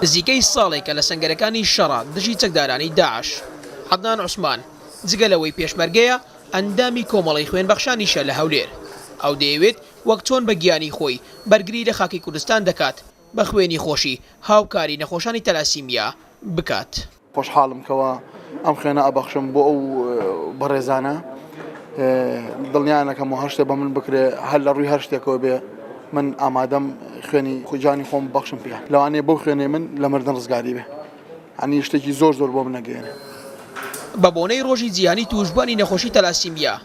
نزیکەی ساڵێکە لە سەنگەرەکانی شەڕە دژی چەکدارانی داعش. عەدنان عوسمان، جگە لەوەی پێشمەرگەیە، ئەندامی کۆمەڵەی خوێن بەخشانیشە لە هەولێر. ئەو دەیەوێت وەک چۆن بە گیانی خۆی بەرگری لە خاکی کوردستان دەکات، بە خوێنی خۆشی هاوکاری نەخۆشانی تەلاسیمیا بکات. خۆشحاڵم کەوا ئەم خوێنە ئەبەخشم بۆ ئەو بەڕێزانە دڵنیانەکەم و هەر شتێ بە من بکرێ هەر لە ڕووی هەر شتێکەوە بێ من ئامادەم خوێنی خوجانی خۆم بەخشم پێ لەوانەیە بەو خوێنێ من لە مردن ڕزگاری بێ ئەنی شتێکی زۆر زۆر بۆ منەگەێنێ. بە بۆنەی ڕۆژی جیهانی تووشبووانی نەخۆشی تەلاسیمیا،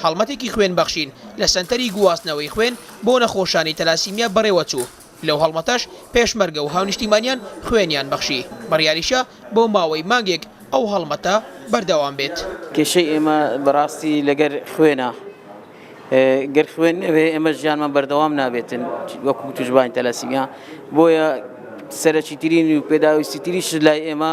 هەڵمەتێکی خوێن بەخشین لە سەنتەری گواستنەوەی خوێن بۆ نەخۆشانی تەلاسیمیا بەڕێوەچوو. لەو هەڵمەتەش پێشمەرگە و هاونیشتیمانیان خوێنیان بەخشی. بڕیاریشە بۆ ماوەی مانگێک ئەو هەڵمەتە بەردەوام بێت. کێشەی ئێمە بەڕاستی لەگەر خوێنە. گەر خوێن نەبێ ئێمە ژیانمان بەردەوام نابێتن وەکو تووشبوانی تەلەسیمیا. بۆیە سەرەکیترین و پێداویستیترین شت لای ئێمە،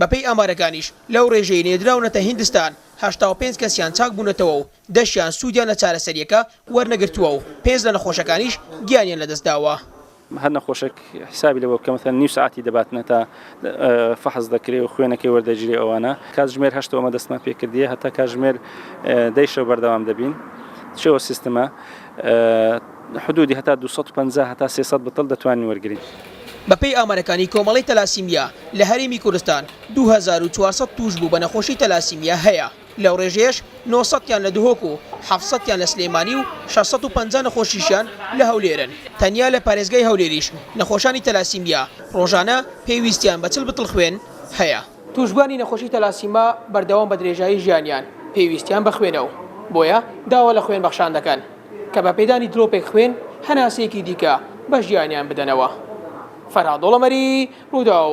بەپێی ئامارەکانیش لەو رێژەی نێردراونەتە هیندستان هەشتا و پێنج کەسیان چاک بوونەتەوە و دە شیان سوودیان لە چارەسەرییەکە وەرنەگرتووە و پێنج لە نەخۆشەکانیش گیانیان لەدەستداوە. هەر نەخۆشێک حیسابی لەوە بکە مەسەلەن نیو سەعاتی دەباتنە تا فەحس دەکرێ و خوێنەکەی وەردەگیرێ ئەوانە کاتژمێر هەشتەوە ئەمە دەستمان پێکردیە هەتا کاتژمێر دەی شەو بەردەوام دەبین چەوە سیستمە حدودی هەتا دوو سەد و پەنجا هەتا سێ سەد بتڵ دەتوانین وەرگرین. بەپێی ئامارەکانی کۆمەڵەی تەلاسیمیا لە هەرێمی کوردستان دوو هەزار و چوار سەد تووشبوو بە نەخۆشی تەلاسیمیا هەیە، لەو رێژەیەش نۆ سەد تیان لە دهۆک و حەفت سەد تیان لە سلێمانی و شەش سەد و پەنجا نەخۆشیشیان لە هەولێرن، تەنیا لە پارێزگای هەولێریش نەخۆشانی تەلاسیمیا رۆژانە پێویستیان بە چل بتڵ خوێن هەیە. تووشبووانی نەخۆشی تەلاسیما بەردەوام بە درێژایی ژیانیان پێویستیان بە خوێنە و بۆیە داوا لە خوێن بەخشان دەکەن. کە بە پێدانی درۆپێک خوێن هەناسەیەکی دیکە بە ژیانیان بدەنەوە. فەرهاد دۆڵەمەری، رووداو.